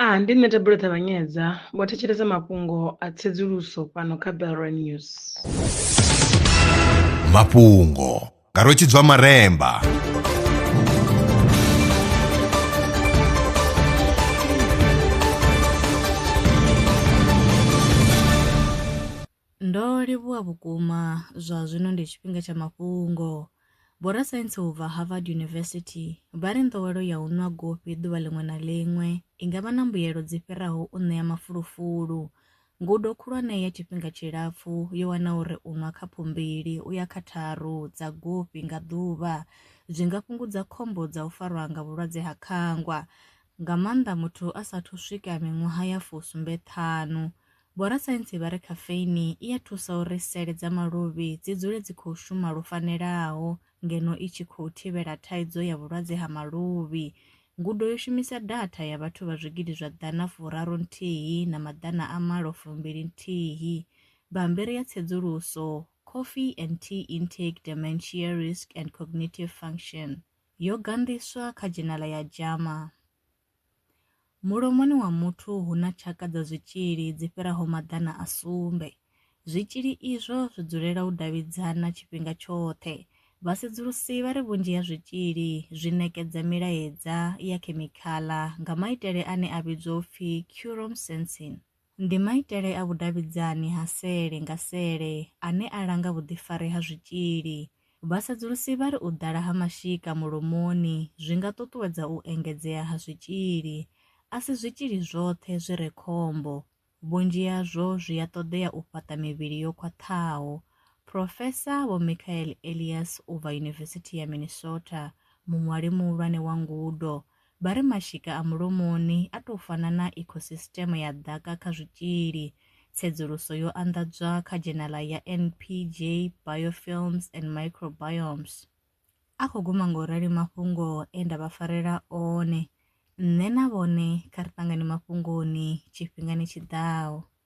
A Ndi nṋe Thabelo Ṱavhanyedza, vho thetshelesa mafhungo a tsedzuluso fhano kha Belrwa News. Mafhungo nga Rwetshidzwa Maremba. Ndo livhuwa vhukuma, zwa zwino ndi tshifhinga tsha mafhungo. Vhorasaintsi u bva Harvard University vha ri nḓowelo ya u nwa gofhi ḓuvha ḽiṅwe na ḽiṅwe i nga vha na mbuyelo dzi fhiraho u ṋea mafulufulu. Ngudo khulwane ya tshifhinga tshilapfu yo wana uri u nwa khaphu mbili u ya kha tharu dza gofhi nga ḓuvha zwi nga fhungudza khombo dza u farwa nga vhulwadze ha khangwa, nga maanḓa muthu a sa athu swika miṅwaha ya fu sumbe ṱhanu, Vhorasaintsi vha ri khafeini i a thusa uri sele dza maluvhi dzi dzule dzi khou shuma lwo fanelaho ngeno i tshi khou thivhela thaidzo ya vhulwadze ha maluvhi. Ngudo yo shumisa datha ya vhathu vha zwigidi zwa ḓana furaru nthihi na maḓana a malo fumbili nthihi. Bammbiri ya tsedzuluso Coffee and Tea Intake Dementia Risk and Cognitive Function yo ganḓiswa kha dzhenala ya JAMA. Mulomoni wa muthu hu na tshaka dza zwitzhili dzi fhiraho maḓana a sumbe. Zwitzhili izwo zwi dzulela u davhidzana tshifhinga tshoṱhe. Vhasedzulusi vha ri vhunzhi ha zwitzhili zwi ṋekedza milaedza ya khemikhala nga maitele ane a vhidzwa u pfi quorum sensing. Ndi maitele a vhudavhidzani ha sele nga sele ane a langa vhuḓifari ha zwitzhili. Vhasedzulusi vha ri u ḓala ha mashika mulomoni zwi nga ṱuṱuwedza u engedzea ha zwitzhili. A si zwitzhili zwoṱhe zwi re khombo. Vhunzhi hazwo zwi a ṱoḓea u fhaṱa mivhili yo khwaṱhaho. Profesa Vho Michael Elias u bva Yunivesithi ya Minnesota, muṅwali muhulwane wa ngudo, Vha ri mashika a mulomoni a tou fana na ikhosisiṱeme ya ḓaka kha zwitzhili. Tsedzuluso yo anḓadzwa kha dzhenaḽa ya NPJ Biofilms and Microbiomes. A khou guma nga u rali mafhungo e nda vha farela one. Nṋe na vhone kha ri ṱangane mafhungoni tshifhingani tshi ḓaho.